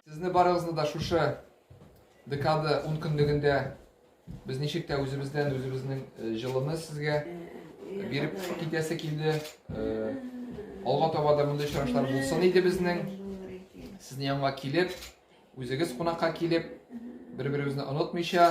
Сезне барыгызны да шушы декада ун көнлегендә без ничек тә үзебездән үзебезнең э, җылыны сезгә биреп китәсе килде. Э, алга таба да мондый очрашлар булсын иде безнең. Сезнең янга килеп, үзегез кунакка килеп, бер-беребезне онытмыйча,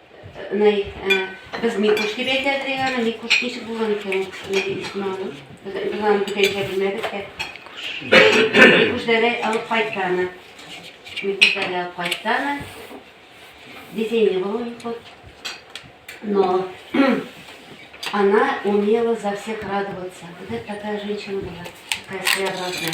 Нәй, без Микуш дип әйтәдер иде аны. Микуш ничек булган икән ул кешенең исеме аны? Без без аны бүтәнчә белмәдек тә. Микуш дәләй алып кайтты аны. Микуш дәләй алып кайтты аны. Детей не было у них вот. Но она умела за всех радоваться. Вот это такая женщина была, такая своеобразная.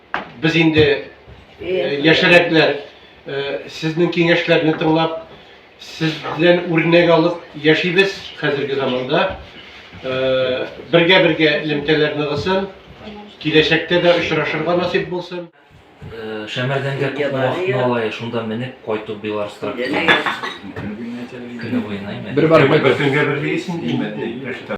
Без инде яшәрәкләр сезнең киңәшләрне тыңлап, сез белән үрнәк алып яшибез хәзерге заманда. Бергә-бергә элемтәләр ныгысын, киләчәктә дә очрашырга насыйп булсын. Шәмәрдәнгә күпме вакытны ала, шунда менеп кайту Беларусь тракторы. Көне буена имән. Бер бар, бер көнгә бер дисең, имән.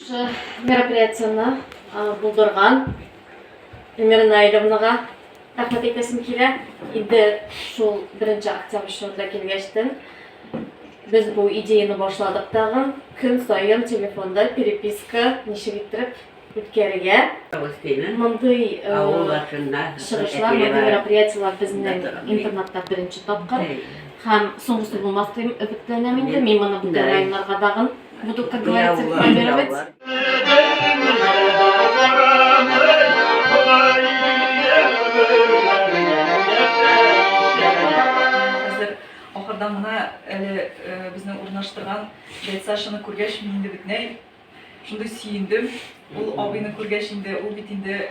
Мероприятиене булдырган Эльмира Наилевнага рәхмәт әйтәсем килә. Инде шул беренче октябрь чорында килгәчтен без бу идеяны башладык тагын. Көн саен телефонда переписка ничек иттереп үткәрергә. Мондый чыгышлар, мондый мероприятиеләр безнең интернатта беренче тапкыр. Һәм соңгысы булмас дип өметләнәм инде. Мин моны бүтән районнарга тагын Буду, как говорится, рекламировать. Ахырдан гына әле э, безнең урнаштырган Дәйт Сашаны күргәч, мин инде бөтенләй шундый сөендем. Ул абыйны күргәч инде, ул бит инде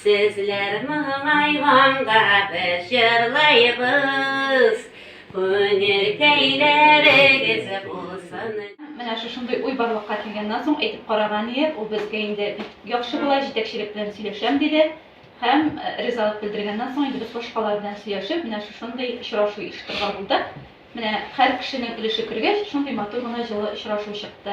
Сезләр моңайганга без җырлыйбыз, күңелкәйләрегез булсын. Менә шушындый уй барлыкка килгәннән соң әйтеп караган иек, ул безгә инде бик яхшы була, җитәкчелек белән сөйләшәм, диде һәм ризалык белдергәннән соң инде без башкалар белән сөйләшеп, менә шушындый очрашу оештырырга булдык. Менә һәр кешенең өлеше кергәч, шундый матур гына җылы очрашу чыкты.